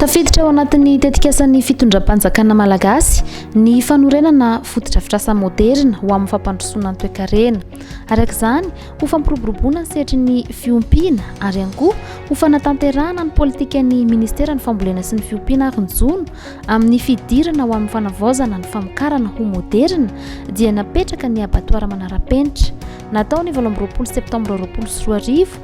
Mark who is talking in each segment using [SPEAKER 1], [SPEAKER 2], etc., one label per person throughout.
[SPEAKER 1] Tafiditra ao anatin'ny tetikasan'ny fitondram-panjakana malagasy ny fanorenana fotodrafitrasa moderina ho amin'ny fampandrosoana ny toekarena. Araka izany, ho fampiroboroboana ny sehatry ny fiompiana ary ihany koa ho fanatanterahana ny politikan'ny Ministeran'ny Fambolena sy ny Fiompiana ary ny Jono amin'ny fidirana ho amin'ny fanavaozana ny famokarana ho moderina dia napetraka ny abatoara manara-penitra natao ny valo amby roapolo septambra roapolo sy roa arivo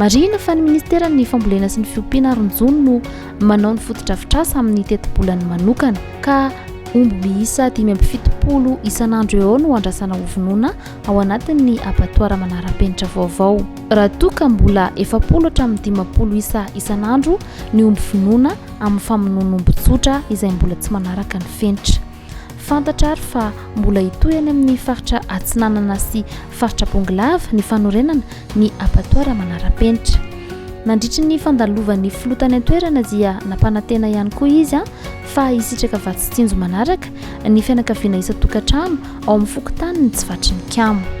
[SPEAKER 1] Marihina fa ny Ministeran'ny Fambolena sy ny Fiompiana ary ny Jono no manao ny fotodrafitrasa amin'ny tetibolany manokana, ka omby miisa dimy amby fitopolo isan'andro eo no andrasana hovonoina ao anatin'ny abatoara manara-penitra vaovao. Raha toa ka mbola efapolo hatramin'ny dimampolo isa isan'andro ny omby vonoina amin'ny famonoan'omby tsotra izay mbola tsy manaraka ny fenitra, Fantatra ary fa mbola hitohy any amin'ny faritra Atsinanana sy faritra Bongolava ny fanorenana ny abattoir manara-penitra. Nandritry ny fandalovan'ny filoha tany an-toerana dia nampanantena ihany koa izy fa hisitraka vatsy tsinjo manaraka ny fianakaviana isan-tokantrano ao amin'ny fokontanin'i Tsivatrininkamo.